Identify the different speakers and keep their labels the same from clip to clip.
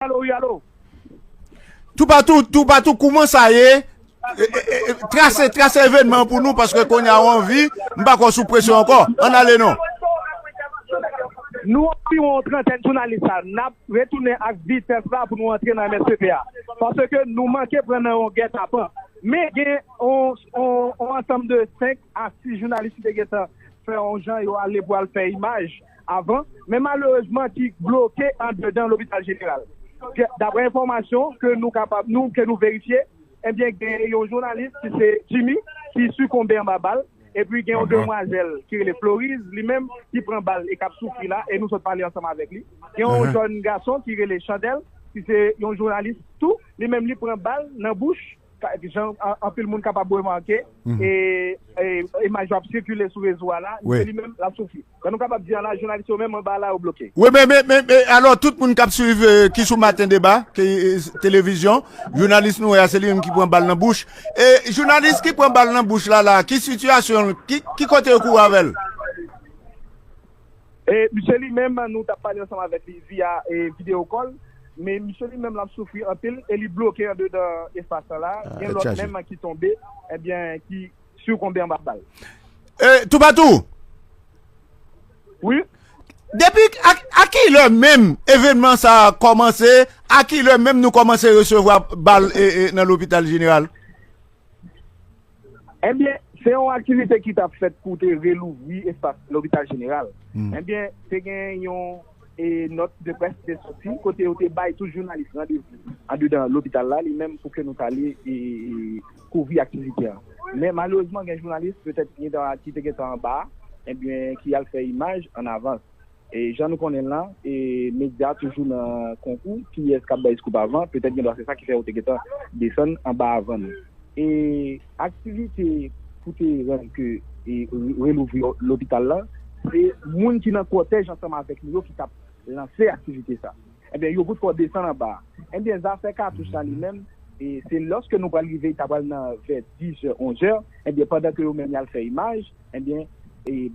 Speaker 1: Alo wi alo.
Speaker 2: Toupatou toupatou kouman sa ye? Trase trase evenman pou nou paske konya ou anvi, m pa kwè w sou presyon ankò. Ann ale non. Nou
Speaker 1: anviwon yon trantèn jounalis la, n ap retounen ak vitès la pou nou antre nan msp a. Paske nou manke pran nan yon gètapan. Men gen yon ansanm de 5 a 6 jounalis ki te gentan fè yon jan yo ale pou al fè imaj. avan, men malerezman ki bloke andedan lopital jeneral. Daprè enfòmasyon ke nou kapab nou, ke nou verifye, ebyen gen yon jounalis ki se Jimmy ki sikonbe anba bal, epi gen yon demwazèl ki rele Floriz li menm ki pran bal e kap soufri la, e nou sot pale ansanm avèk li. Gen yon jèn gason ki rele Chandèl ki se yon jounalis tou, li menm li pran bal nan bouch. Jan anpil moun kapab remake, imaj yo ap sikile sou rezo a la, se li menm l ap soufri. Jan nou kapab di a la, jounalis yo menm anba a la yo bloke. Wi men,
Speaker 2: alò tout moun k ap swiv ki sou Maten Deba, televizyon, jounalis nou wè a se li menm ki pran bal nan bouch. Jounalis ki pran bal nan bouch la la, ki sitiyasyon l, ki kote yo kouri avè l?
Speaker 1: E misye li menm nou tap pale ansanm avèk li via video call men misye li menm lap soufri anpil e li bloke andedan espas lan la gen lòt menm ki tonbe ebyen ki sikonbe anba bal. E toupatou! Wi?
Speaker 2: Depi a ki lè menm evenman sa kòmanse a ki lè menm nou kòmanse resevwa bal nan lopital jeneral?
Speaker 1: Enbyen, se yon aktivite ki t ap fèt pou te relouvri espas Lopital Jeneral. Enbyen, te gen yon nòt de près ki te soti kote yo te bay tout jounalis randevou andedan lopital la li menm pou ke nou t ale kouvri aktivite a. Men malerezman gen jounalis petèt ki te gentan anba a, enbyen ki al fè imaj an avans. Jan nou konnen la, medya toujou nan konkou kiyès k ap bay scoop avan, petèt gendwa se sa ki fè yo te gentan desann anba avan nou. E aktivite pou te rann ke relouvri lopital la, se moun ki nan kòtèj ansanm avèk nou yo ki t ap lanse aktivite sa. Enben, yo bout kò desann anba. Enben, zafè katouch la li menm, se lòske nou pral rive, ta pral nan vè dizè, onzè, enben pandan ke yo menm y al fè imaj, Ebyen,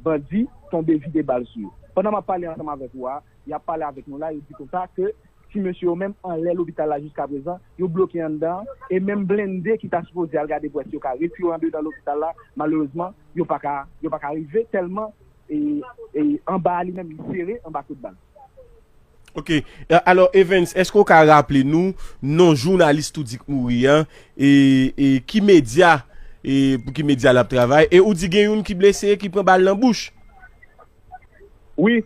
Speaker 1: bandi tonbe vide bal sou yo. Pandan m ap pale ansanm avèk ou a, y ap pale avèk nou la, yo di konsa ke ti mesye yo menm anlè lopital la jiskaprezan, yo bloke anndan an, e menm blende ki ta sipoze al gade pou wè si yo ka retire andedan lopital la, malerezman, yo pa ka rive tèlman anba a li menm li sere anba kout bal. Ok,
Speaker 3: alò Evens, eske ou ka raple nou non jounalis tou di k mouri an, e ki medya, e pou ki medya lap travay, e ou di gen youn ki blese e ki pran bal nan bouch?
Speaker 1: Wi.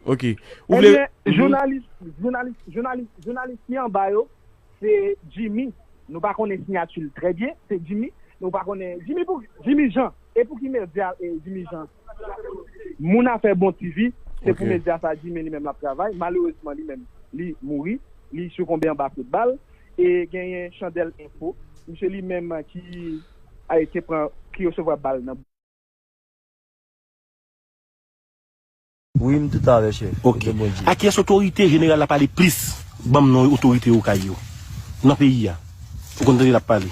Speaker 1: Ok.
Speaker 3: Ou vle. Ebyen,
Speaker 1: jounalis, jounalis, jounalis, jounalis ki anba yo, se Jimmy, nou pa konnen sinyati l trè byen, se Jimmy, nou pa konnen, Jimmy pou, Jimmy Jean, e pou ki medya Jimmy Jean? Moun afè bon TV se pou medya sa di men li menm lap travay malerezman li menm li mouri li sikonbe anba kout bal e genyen chandèl enfo misye li menm ki ay te pran ki resevwa bal nan
Speaker 4: Wi m tout avè chef ou gen bon Dye. Akyes
Speaker 3: otorite general la pale plis banm non otorite okay yo nan peyi a ou konn tande lap pale.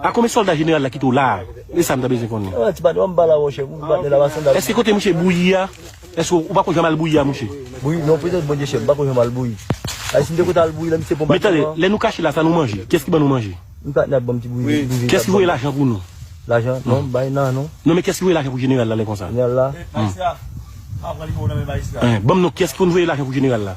Speaker 5: A konbyen solda jeneral la kite w la a? E sa m ta bezwen konnen.
Speaker 4: Eske kote
Speaker 5: mouche bouyi a, eske ou pa konn jan mal bouyi a
Speaker 4: mouche? Men tande, lè nou kache la
Speaker 5: sa nou manje? Kiyès ki ban nou manje?
Speaker 4: Kiyès ki voye lajan pou
Speaker 5: nou?
Speaker 4: Non men kiyès ki voye lajan pou
Speaker 5: jeneral la lè konsa? Ban m non kiyès ki konn voye lajan pou jeneral la?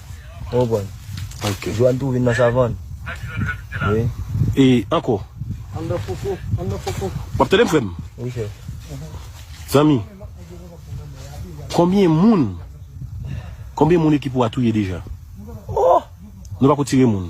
Speaker 4: Ou konprann? Ok. Jwann tou
Speaker 5: vin nan savann.
Speaker 4: Wi. E
Speaker 5: ankò. An nan fouco, an nan fouco. Wap tande m frè m? Wi
Speaker 4: chèf. Zanmi,
Speaker 5: konbyen moun, konbyen moun ekip ou a touye deja? Oh!
Speaker 4: Nou pako tire
Speaker 5: moun.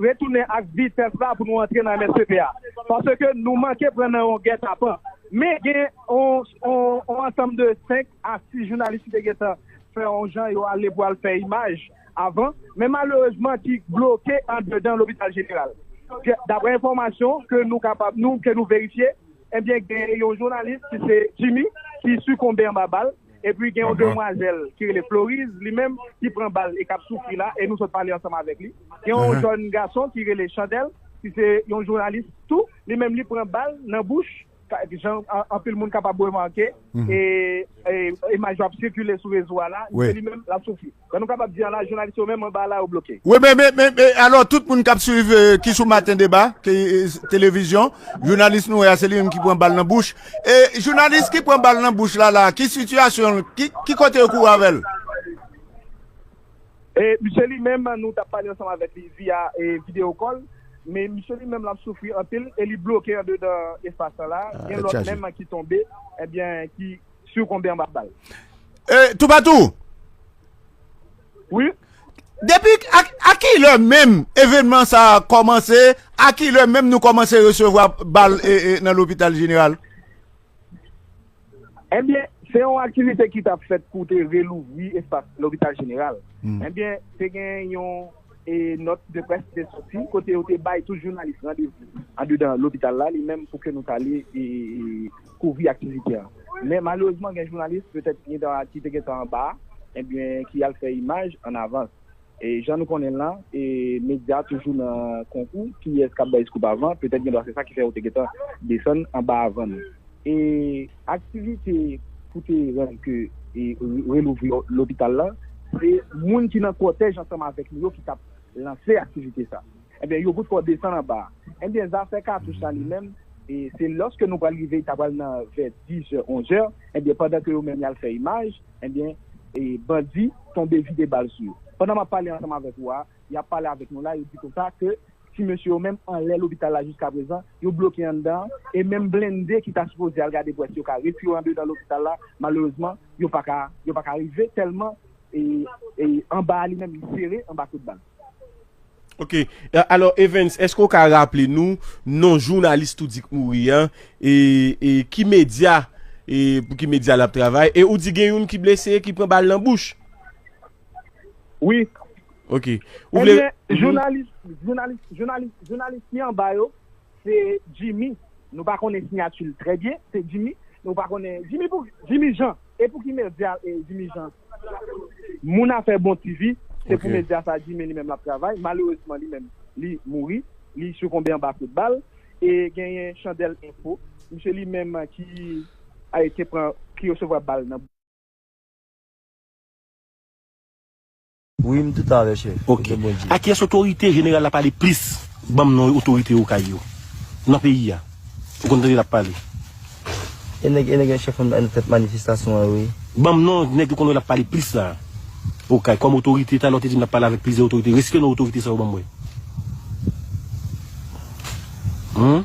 Speaker 1: Retounen ak vitès la pou nou antre nan msp a, paske nou manke pran nan yon gètapan. Men gen yon ansanm de 5 a 6 jounalis ki te gentan fè yon jan yo ale pou al fè imaj avan, men malerezman ki bloke andedan lopital jeneral. Daprè enfòmasyon ke nou kapab, ke nou verifye, ebyen gen yon jounalis ki se Jimmy ki sikonbe anba bal. Epi gen yon demwazèl ki rele Floriz li menm ki pran bal e kap soufri la e nou sot pale ansanm avèk li. Gen yon jòn gason ki rele Chandèl ki se yon jounalis tou li menm li pran bal nan bouch jan anpil moun kapab remake e imaj yo ap sikile sou rezo a la li menm lap soufri. Sa nou kapab di a la jounalis yo menm anba a la yo bloke. Wi men men men men
Speaker 2: alò tout moun kap swiv ki sou maten deba ki televizyon jounalis nou wè a se li menm ki pran bal nan bouch e jounalis ki pran bal nan bouch la la ki sitiyasyon l ki ki kote yo kouri avè l.
Speaker 1: E misye li menm nou tap pale ansanm avèk li via e video call me misye li menm lap soufri anpil e li bloke andedan espas lan la gen lòt menm ki tonbe ebyen ki si ou konbe anba bal. Euh
Speaker 2: toupatou.
Speaker 1: Wi.
Speaker 2: Depi a ki lè menm evenman sa kòmanse, a ki lè menm nou kòmanse resevwa bal nan lopital jeneral?
Speaker 1: Ebyen, eh se yon aktivite ki tap fèt pou te relouvri espas lopital jeneral. Hmm. Ebyen, eh te gen yon e nòt de près ki te soti, kote yo te bay tout jounalis randevou andedan lopital la li menm pou ke nou tale e... kouvri aktivite an. Men malerezman gen jounalis, petèt gen tan ki te gen tan anba a, ebyen ki al fè imaj an avans. E jan nou konnen l lan, e medya toujou nan konkou kiyès k ap bay scoop avan, petèt gen dwa se sa ki fè yo te gen tan desann anba avan nou. E aktivite pou te rann ke e relouvri lopital lan, se moun ki nan kòtèj ansanm avèk nou yo ki t ap lanse aktivite sa. Ebyen yo bout fè w desann anba a. Ebyen zafè katouch la li menm, se lòske nou pral rive ta pral nan vè dizè onzè, ebyen pandan ke yo menm yal fè imaj, ebyen bandi tonbe vide bal sou yo. Pandan map pale ansanm avèk ou a, yap pale avèk nou la, yo di konsa ke ti mesye yo menm anlè lopital la jiskaprezan, yo bloke anndan an, e menm blende ki ta sipoze al gade pou wè si yo ka retire andedan lopital la, malerezman yo paka yo paka rive tèlman anba a li menm li sere anba kout bal. Ok,
Speaker 3: alò Evens, eske ou ka raple nou non jounalis tou di k mouri an, e ki medya, e pou ki medya l ap travay, e ou di gen youn ki blese ki pran bal nan bouch?
Speaker 1: Wi.
Speaker 3: Ok. Ebyen,
Speaker 1: jounalis, jounalis, jounalis, jounalis ki anba yo. Se Jimmy, nou pa konnen sinyati l trè byen, se Jimmy, nou pa konnen, Jimmy pou, Jimmy Jean, e pou ki medya Jimmy Jean, moun afè bon TV, se pou medya sa Jimmy li menm l ap travay, malerezman li menm li mouri, li sikonbe anba kout bal, e genyen Chandèl Enfo, misye li menm ki te pran, ki resevwa bal nan.
Speaker 4: Wi m toutan avè chèf Ok. Kote Bondye. A kiyès
Speaker 5: otorite jeneral la pale plis banm non otorite okay yo nan peyi a ou konn tande lap pale. E
Speaker 4: nèg e nèg yon chèf nan tèt manifestasyon an yo wi. Banm non nèg ou
Speaker 5: konn wè lap pale plis la okay kòm otorite talè ou te dim lap pale avèk plizyè otorite reske non otorite sa yo banm wè humm.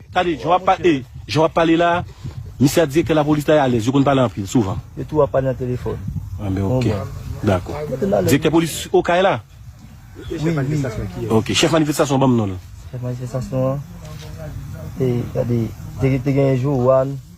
Speaker 5: Tande jan wap pale eh jan wap pale la misye ak direktè lapolis la yo alèz yo konn pale anpil souvan. Yo tou ap pale nan telefòn.
Speaker 4: An ben ok
Speaker 5: dakò. Direktè polis okay la? Wi
Speaker 4: wi. Ok
Speaker 5: chèf manifestasyon an banm non l. Chèf manifestasyon
Speaker 4: an e gade te genyen Johanne.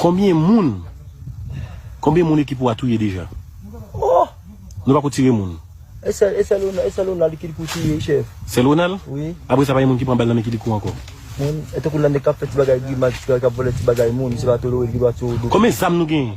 Speaker 5: Konbyen moun Konbyen moun ekip ou a touye deja oh
Speaker 4: nou pako tire
Speaker 5: moun. Esè
Speaker 4: lonal kilikou touye chèf. Sè lonal? Wi.
Speaker 5: Apresa pa gen moun
Speaker 4: ki pran bal
Speaker 5: nan men kilikou ankò. Moun, e tankou lanne
Speaker 4: kap fè ti bagay grimas, kap vòlè ti bagay moun, se pa tolorel ki dwa tirew dou. Konbyen zam nou genyen?